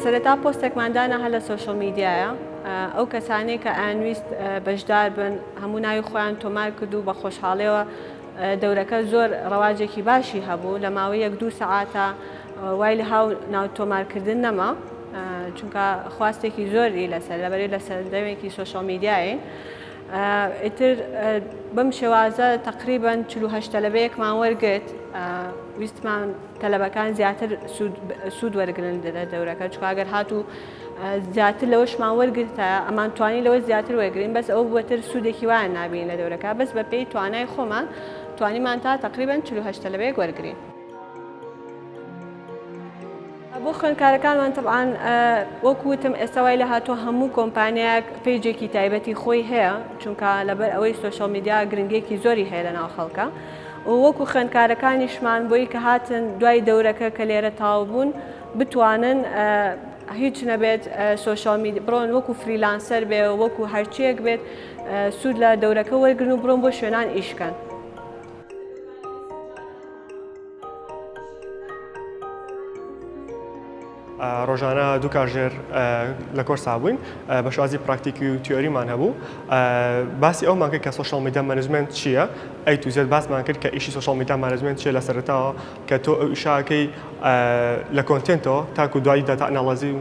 سەرەتا پۆستێکمان دانا هەر لە سۆشل میدیایە ئەو کەسانەی کە ئەنویست بەشدار بن هەموو ناوی خۆیان تۆمار کرد و بە خۆشحاڵەوە دەورەکە زۆر ڕەواجێکی باشی هەبوو لە ماوەی یەک دوو سەعاتە وای لە هاو ناو تۆمارکردن نەما چونکە خواستێکی زۆری لەسەر لەبەری لە سەردەمێکی سوۆشەڵ میدیایین ئیتر بەم شێوازە تقریبان چهشت تەلەبەیەکمان وەرگرت ویستمان تەلەبەکان زیاتر سوود وەرگن لە دەورەکە چکگەر هاتوو زیاتر لەوەشمان وەرگرتە ئەمان توانی لەوە زیاتر وەرگین بەس ئەو بەتر سوودێکی وایە نابین لە دەورەکە بەس بە پێی توانای خۆمان توانیمان تا تقریبان 48 تەلەبەیەک وەرگین بۆ خوێندکارەکانمان طبعاان وەکوتم ئێستا وای لە هاتووە هەموو کۆمپانیاک پێیجێکی تایبەتی خۆی هەیە چونکە لەبەر ئەوەی سوۆشال میدیا گرنگێکی زۆری هەیە لە ناو خەڵکە وەکو خوێندکارەکانیشمان بۆی کە هاتن دوای دەورەکە کە لێرە تاو بوون و بتوانن هیچ نەبێت سوۆشال میدی بڕۆن وەکو فریلانسەر بێ وەکو هەرچیەک بێت سوود لە دەورەکە وەرگن و بڕۆن بۆ شوێنان ئیشکەن. ڕۆژانە دوو کاژێر لە کۆرسا بووین بە شازی پراکتیکی و تیۆریمان هەبوو باسی ئەو ماکە کە سوۆشال میدا مەنجمنت چییە ئەی توزێت باسمان کرد کە ئیشی سوۆشال میدا مارزمنت چیە لە سەرتاوە کە تۆ ئەو ئیشە ئەکەی لە کۆنتێنتەوە تاکو دوایی داتا ئەناڵازی و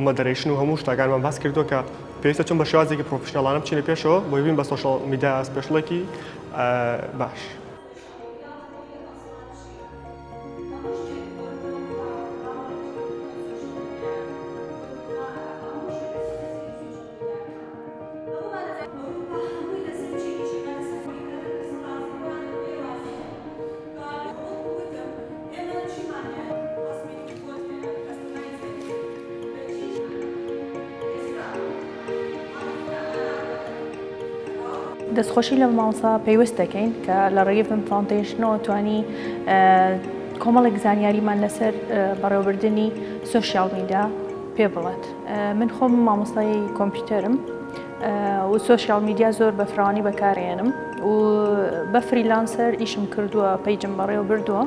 مۆدەرەیشن و هەموو شتەکانمان باس کردووە کە پێویستە چون بە شێوازێکی پرۆفیشناڵانە بچینە پێشەوە بۆی بین بە سۆشیاڵ میدیا سپێشڵێکی باش. دەستخۆشی لە مامۆستا پەیوەست دەکەین کە لە ڕێگەی فم فاونتەیشنەوە توانی کۆمەڵێک زانیاریمان لەسەر بەڕێوەبردننی سوسیال میدا پێ بڵێت. من خۆم مامۆستای کۆمپیوتەرم و سوۆشیال میدیا زۆر بە فراوانی بەکارێنم و بە فریلانسەر ئیشم کردووە پەیجم بەڕێوە بردووە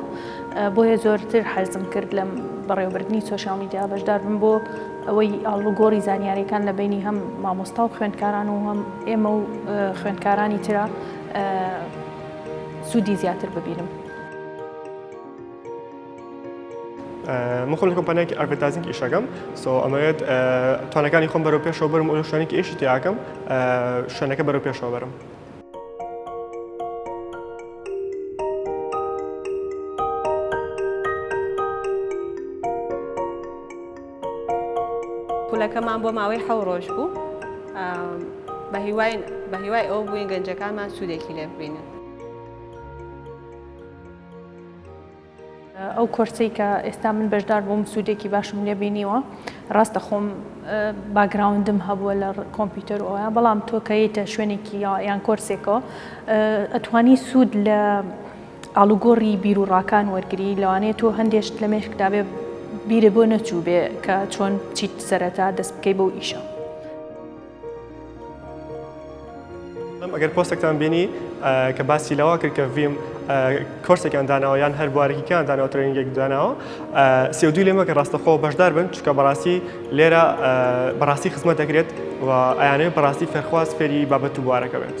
بۆیە زۆرتر حەزم کرد لەم بەڕێوەبردننی سوۆشیال میدیا بەشدار بم بۆ ئەوەی ئاڵوگۆڕی زانیاریەکان لە بینی هەم مامۆستا و خوێندکاران و هەم ئێمە و خوێندکارانی تررا سوودی زیاتر ببینم. من خۆم لە کۆمپانیایەکی ئەرڤێتازینگ ئیشەکەم سۆ ئەمەوێت توانەکانی خۆم بەرەو پێشەوە بەرم و شوێنێکی ئێشی تیاکەم شوێنەکە بەرەو پێشەوە بەرم. خولەکەمان بۆ ماوەی حەو ڕۆژ بوو بە هیوای بە هیوای ئەو بووین گەنجەکانمان سوودێکی لێ ببینن. ئەو کۆرسەی کە ئێستا من بەشدار بووم سوودێکی باشم لێ بینیوە ڕاستە خۆم باگراوندم هەبووە لە کۆمپیوتەر و ئەوە بەڵام تۆ کەیتە شوێنێکی یان کۆرسێکەوە ئەتوانی سوود لە ئالوگۆڕی بیرروڕاکان وەرگری لەوانەیە تۆ هەندێشت لە مێشکدابێ بیرە بۆ نەچوو بێ کە چۆن چیت سەرەتا دەست بکەی بەو ئیشە. ئەگەر پۆستێکتان بینی کە باسی لەوە کرد کە ڤیم کۆرسێکیان داناوە یان هەر بوارێکیان دانەوە ترێنگێک داناوە سێودوی لێمە کە ڕاستەخۆ بەشدار بن چکە بەڕاستی لێرە بەڕاستی خزمەت دەکرێت و ئەیانەیە بەڕاستی فەرخواز فێری بابەت و بوارەکە بێت.